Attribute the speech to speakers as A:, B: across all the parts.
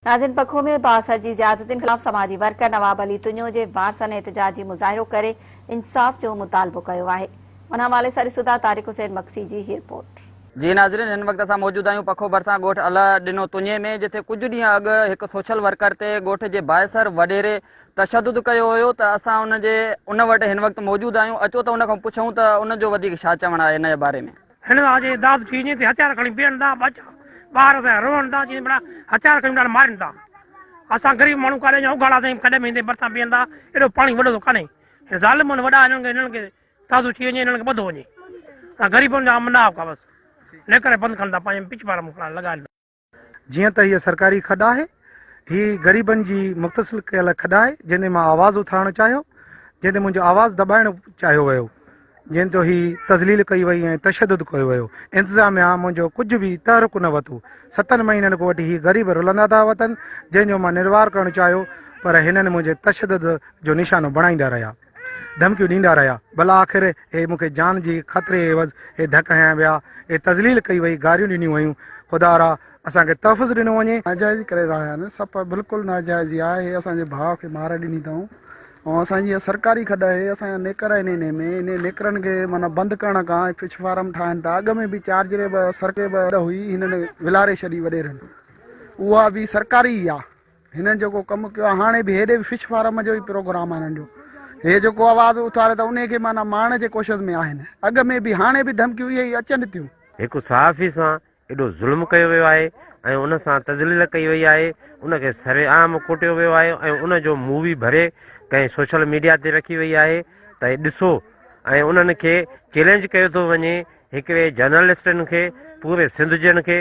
A: ناظرين پکو ۾ بااثر جي زيادتين خلاف سماجي ورڪر نواب علي تنيو جي وارثن احتجاجي مظاهرو ڪري انصاف جو مطالبو ڪيو آهي ان حوالي سان ڏسو ٿا طارق حسين مگسي جي هي رپورٽ. جي ناظرين هن
B: وقت اسان موجود آهيون پکو ڀرسان ڳوٺ الهه ڏنو تنيي ۾ جتي ڪجهه ڏينهن اڳ هڪ سوشل ورڪر تي ڳوٺ جي بااثر وڏيري تشدد ڪيو هيو ته اسان ان جي ان وٽ هن وقت موجود آهيون اچو ته ان کان پڇون ته ان جو وڌيڪ ڇا چوڻ آهي ان جي باري ۾. هن ڏانهن جي داد ٿي وڃي تي
C: هٿيار کڻي بيهن ٿا، ٻچا ٻار ته روئن ٿا، چين ڀلا هٿيار کڻي ٻچا مارين ٿا. اسان غريب ماڻهو ڪاڏي وڃون، اگهاڙا تائين ڪڏهن به ايندي ڀرسان بيهن ٿا، ايڏو پاڻي وڏو ته ڪانهي. هن ظالمن وڏا هنن کي هنن کي دادو ٿي وڃي، هنن کي ٻڌو وڃي. اسان غريبن جا منافقا بس نڪري بند ڪن ٿا، پنهنجي پچ پار مون کڻڻ لڳائن ٿا. جيئن ته هيء
D: سرڪاري کڏ آهي. هي غريبن جي مختصل ڪيل کڏ آهي، جنهن تي مان آواز اٿارڻ چاهيو، جنهن تي منهنجو آواز دٻائڻ چاهيو ويو، جنهن تي هي تذليل ڪئي وئي ۽ تشدد ڪيو ويو. انتظاميا منهنجو ڪجهه به تحرڪ نه وتو. ستن مهينن کان وٺي هي غريب رلندا ٿا وتن، جنهن جو مان نروار ڪرڻ چاهيو، پر هنن منهنجي تشدد جو نشانو بڻائيندا رهيا. ڌمڪيون ڏيندا رهيا، ڀلا آخر اهي مون کي جان جي خطري عيوض اهي ڌڪ هنيا ويا، اهي تذليل ڪئي وئي، گاريون ڏنيون ويون، خدا را اسان کي تحفظ ڏنو وڃي. ناجائزي ڪري رهيا آهن،
E: سپ بلڪل ناجائزي آهي، اهي اسان جي ڀاء کي مار ڏني اٿائون ۽ اسان جي اها سرڪاري کڏ آهي، اسان جا نيڪر آهن انهي ۾ انهن نيڪرن کي معنيٰ بند ڪرڻ کان اهي فش فارم ٺاهن ٿا، اڳ ۾ به چارجري به سرڪاري هئي، هنن ولاري ڇڏي وڏيرن، اها به سرڪاري ئي آهي، هنن جيڪو ڪم ڪيو آهي هاڻي به هيڏي به فش فارم جو ئي پروگرام آهي هنن جو هي جيڪو آواز اٿاري ته انهي کي معنيٰ مارڻ جي ڪوشش ۾ آهن اڳ ۾ به هاڻي به ڌمڪيون اهي ئي اچن ٿيون. هڪ صحافي
F: سان ايڏو ظلم ڪيو ويو آهي ۽ ان سان تذليل ڪئي وئي آهي ان کي سرعام ڪوٽيو ويو آهي ۽ ان جو مووي ڀري ڪنهن سوشل ميڊيا تي رکي وئي آهي ته ڏسو ۽ انهن کي چيلينج ڪيو ٿو وڃي هڪڙي جرنلسٽن کي پوري سنڌ جن کي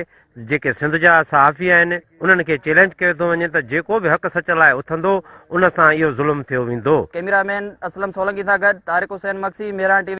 F: جيڪي سنڌ جا صحافي آهن انهن کي چيلينج ڪيو ٿو وڃي ته جيڪو به حق سچ لاء اٿندو ان سان اهو
B: ظلم
F: ٿيو
B: ويندو.
F: ڪيميرا
B: مين اسلم سولنگي
F: سان
B: گڏ طارق
F: حسين
B: مگسي
F: مهراڻ
B: ٽي وي.